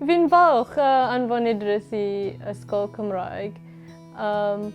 Fi'n falch o anfon Idris i ysgol Cymraeg. Um,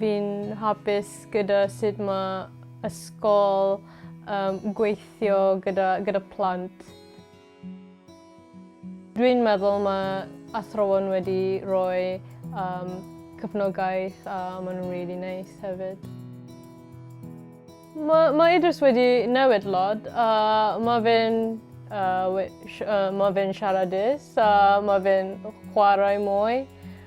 fi'n hapus gyda sut mae ysgol um, gweithio gyda, gyda plant. Dwi'n meddwl mae athrawon wedi rhoi yym cefnogaeth a maen nhw'n rili neis hefyd. Mae mae Idris wedi newid lot a mae fe'n yy we- sh- yy mae fe'n siaradus a mae fe'n chwarae mwy.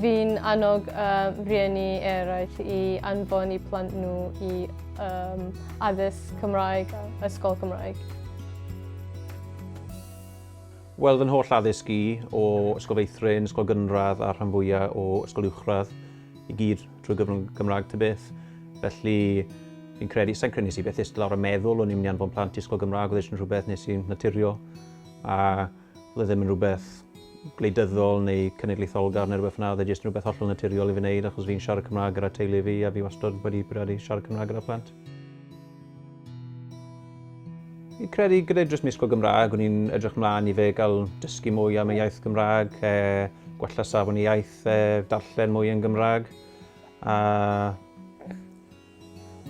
Fi'n annog um, rhieni eraill i anfon i plant nhw i um, addysg Cymraeg, ysgol Cymraeg. Wel, fy holl addysg i o Ysgol Feithrin, Ysgol Gynradd a rhan fwyaf o Ysgol Uwchradd i gyd drwy gyfrwng Gymraeg ty beth. Felly, fi'n credu, sa'n credu nes i beth ystod lawr y meddwl o'n i'n mynd i anfon plant i Ysgol Gymraeg, oedd eisiau rhywbeth nes i'n naturio. A Oedd e ddim yn rhywbeth gwleidyddol neu cenedlaetholgar neu rhywbeth fel 'na, oedd e jyst yn rhywbeth hollol naturiol i fi wneud achos fi'n siarad Cymraeg gyda teulu fi a fi wastad wedi bwriadu siarad Cymraeg gyda phlant. Fi'n credu gyda jyst misgol Gymraeg o'n i'n edrych mlaen i fe gael dysgu mwy am y iaith Gymraeg, gwella safon y iaith, darllen mwy yn Gymraeg a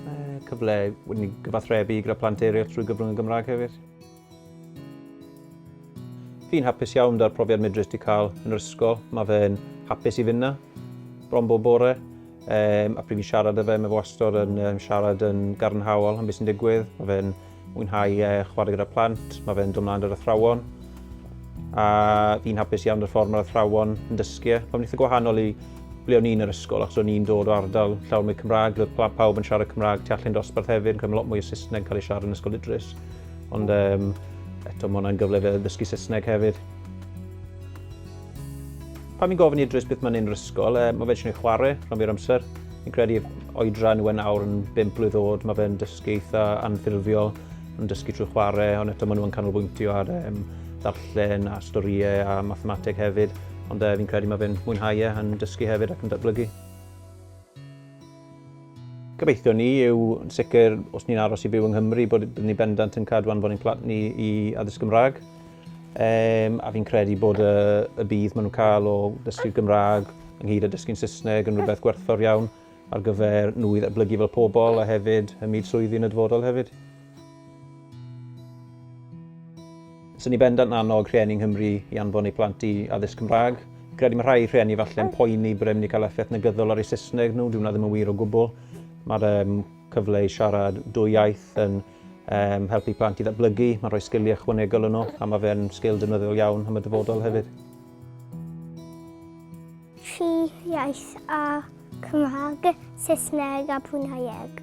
Mae cyfle wedyn i gyfathrebu gyda plant eraill trwy gyfrwng y Gymraeg hefyd. Fi'n hapus iawn 'da'r profiad medrus 'di cael yn yr ysgol. Mae fe'n hapus i fynd 'na, bron bob bore. Yym, a pryd fi'n siarad 'da fe, mae fe wastod yn siarad yn gadarnhaol am beth sy'n digwydd. Mae fe'n Mwynhau chwarae gyda plant, mae fe'n dod mlaen yr athrawon. A fi'n hapus iawn yr ffordd mae'r athrawon yn dysgu. E. Mae'n eitha gwahanol i ble o'n i'n yr ysgol, achos o'n i'n dod o ardal llawer mwy Cymraeg, roedd plant pawb yn siarad Cymraeg tu allan dosbarth hefyd, yn cael lot mwy o Saesneg cael ei siarad yn Ysgol Idris. Ond um, eto, mae hwnna'n gyfle fe ddysgu Saesneg hefyd. Pan fi'n gofyn i Idris beth mae'n un rysgol, e, mae fe eisiau chwarae rhan fi'r amser. Fi'n credu oedran yw e'n awr yn 5 blwydd oed, mae fe'n dysgu eitha anffurfiol, yn dysgu trwy chwarae, ond eto maen nhw'n canolbwyntio ar um, ddarllen a storïau a mathemateg hefyd, ond e, fi'n credu mae fe'n mwynhau e, yn dysgu hefyd ac yn datblygu. Gobeithio ni yw yn sicr, os ni'n aros i byw yng Nghymru, bod ni bendant yn cadw anfon ein plant ni i addysg Gymraeg. Um, a fi'n credu bod y, y bydd maen nhw'n cael o ddysgu'r Gymraeg ynghyd â dysgu'n Saesneg yn rhywbeth gwerthfawr iawn ar gyfer nhw i ddatblygu fel pobl a hefyd ym myd swyddi yn y dyfodol hefyd. Swn i bendant yn annog rhieni yng Nghymru i anfon eu plant i addysg Cymraeg. Credu mae rhai rhieni falle yn poeni bod e'n mynd i cael effaith negyddol ar eu Saesneg nhw, dyw hwnna ddim yn wir o gwbl. Mae'r um, cyfle i siarad dwy iaith yn um, helpu plant i ddatblygu, mae'n rhoi sgiliau ychwanegol yn nhw, a mae fe'n sgil defnyddiol iawn am y dyfodol hefyd. Fi iaith a Cymraeg, Saesneg a Bruneieg.